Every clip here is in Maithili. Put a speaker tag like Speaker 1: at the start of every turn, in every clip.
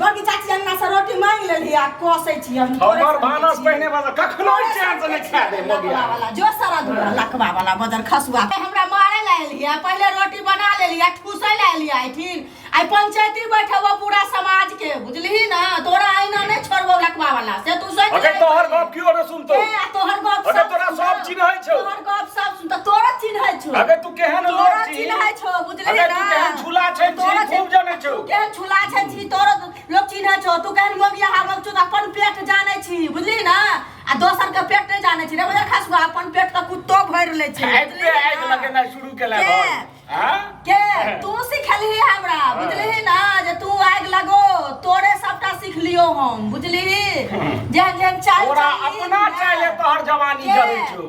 Speaker 1: बड़की चाची अंगना से रोटी मांग लेली आ कोसै छी हम हमर भानस पहिने वाला कखनो चैन से नहीं खा दे मगिया वाला जो सारा दुआ लकवा वाला बदर खसुआ हमरा मारे ला एली आ पहले रोटी बना लेली आ ठूसै ला एली आई ठीक आई पंचायती बैठे वो पूरा समाज के बुझलही ना तोरा आईना नहीं छोड़बो लकवा वाला से तू सोच अगर तोहर गप क्यों न सुनतो ए, आ तोहर गप अगर सब तोरा सुनता। सब चिन्है छौ। तोहर गप सब सुनता तोरा चिन्है छौ अगर तू केहन तोरा लोग छी चिन्है छौ अरे तू केहन झूला छै छी खूब जानै छौ तू केहन झूला छै छी तोरो लोग चिन्ह छौ तू केहन मोगिया हावक छौ अपन पेट जानै छी बुझली ना आ दोसर के पेट नहीं जानै छी रे बुझल खसुआ अपन पेट के कुत्तो भरि ले छै बुझली आइक लगेना शुरू केला भाई हां के तू सिखली हमरा बुझली ना जे तू आइक लगो तोरे सबटा सिखलियो हम बुझली जेहन जेहन चाल तोरा अपना चाले तोहर जवानी जरै छौ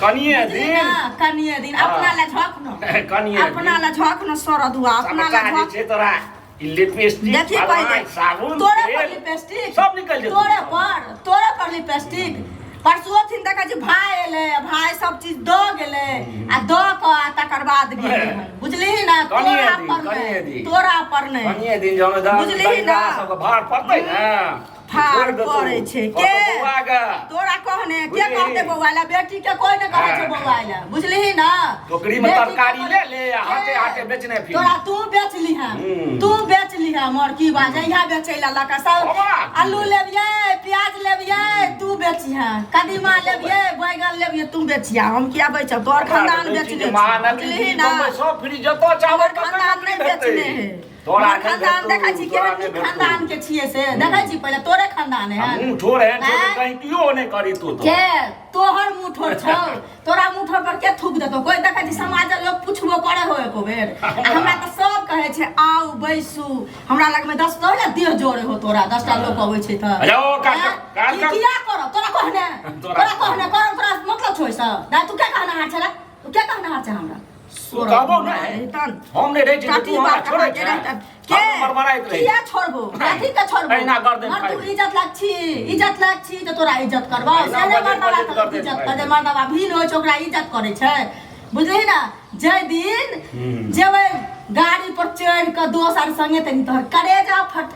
Speaker 1: कनिए दिन कनिए दिन अपना ले झक न कनिए अपना ले झक न सरद हुआ अपना ले झक छै तोरा लिपस्टिक देखिए पहले साबुन तोरे पर लिपस्टिक सब निकल जेतौ तोरे पर तोरे पर लिपस्टिक परसुओ थिन तक जे भाय एले भाय सब चीज द गेले आ द क आ तकर बाद गेले बुझलिही ना तोरा पर नहीं तोरा पर नहीं बुझलिही ना सब भार पड़तै ना ठार करे छै के बौआ के तोरा कहने के बुझली? कहते बौआ ला बेटी के कोई ने कहे छै हाँ। बौआ ला बुझलही ना टोकरी में बेटी के तरकारी कहने- ले ले आ हाथे हाथे बेचने फिर तोरा तू बेच लिहा हम्म। तू बेच लिहा मोर की बात है यहाँ बेचे ला लका सब बाबा। आलू लेबिए प्याज लेबिए तू बेचिहा कदीमा लेबिए बैगन लेबिए तू बेचिहा हम किया बेचब तोहर खानदान बेचने छै, बुझलही ना सब फ्री जतो चावल हमर खानदान नहीं बेचने है तोरा हमर एखन खानदान देखै छी तोरा केहन नहि भेटतौ। खानदान के छियै से देखै छी पहिले तोरे खानदान है आ मुँह ठोर एहन छौ जे आँय? कहीं पियो नहि करी तू तो के तोहर मुंह ठोर छौ तोरा मुंह ठोर पर के थूक देतो कोई देखै छी समाज लोग पुछबो करे हो एको बेर आ हमरा तऽ सब कहै छै आउ बैसू हमरा लग में दस टा ने देह जोड़े हो तोरा दस टा लोग अबै छै तऽ अरे ओ काट- आँय? काट- ई काट। किया करब तोरा कहने तोरा- तोरा कहने करब तोरा मतलब छौ ई सब दाइ तू के कहना हार छला तू के कहना हार छै हमरा कहबो नहीं हम नहीं रहे छी तू हमरा छोड़े के के मरमराई रहे किया छोड़बो कथि के छोड़बो एना कर दे मर तू इज्जत लाग छी इज्जत लाग छी त तोरा इज्जत करबा से ने मरना बात इज्जत कर दे मरना बात भीन होय छै ओकरा इज्जत करे छै बुझली ना जे दिन जेबै गाड़ी पर चढ़ के दोस्त आर संगे तनी तोहर करेजा फट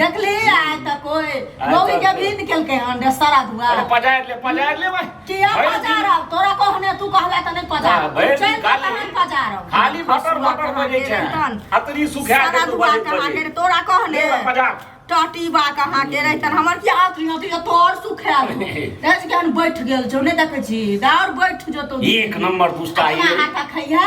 Speaker 1: देखली आय त कोई आय लोग तक के कोई। भी निकलके हन रे सारा दुआ अरे पजायर ले पजायर ले भाई किया भरि दिन- पजारब तोरा कहने तू कहला त नहीं हाँ, पजारब भरि दिन चल खा ले। कहां पजारब खाली भटर भटर बजे छै अतरी सुखा सारा के तू दुआ बजे कहां के बजे रे तोरा कहने ले भाई, पजार टटी बा कहां के रे तन हमर की हाथ रियो तो तोर सुखा देज के हम बैठ गेल छौ नहीं देखे छी दार बैठ जतो एक नंबर दुष्टा अपना ये हाथ खैया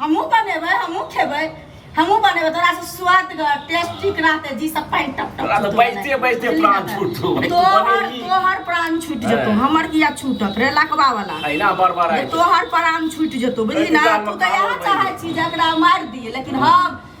Speaker 1: हमहूँ बनेबै हमहूँ खेबै हमहूँ बनेबै तोरा से स्वादगर टेस्टी रहते जी सब पानि टप टप तोरा तऽ बैजते बैजते प्राण छूटतो भाय, तू तोहर बनेबही। तोहर प्राण छूट जेतो हाँ। हमर किया छूटत रे लकवा वाला अहिना बड़बड़ जे आइ तोहर प्राण छूट जेतो बुझली अरे ना दुकान तू में तऽ इएह खाओ चाहै छी जकरा मारि दिए लेकिन हम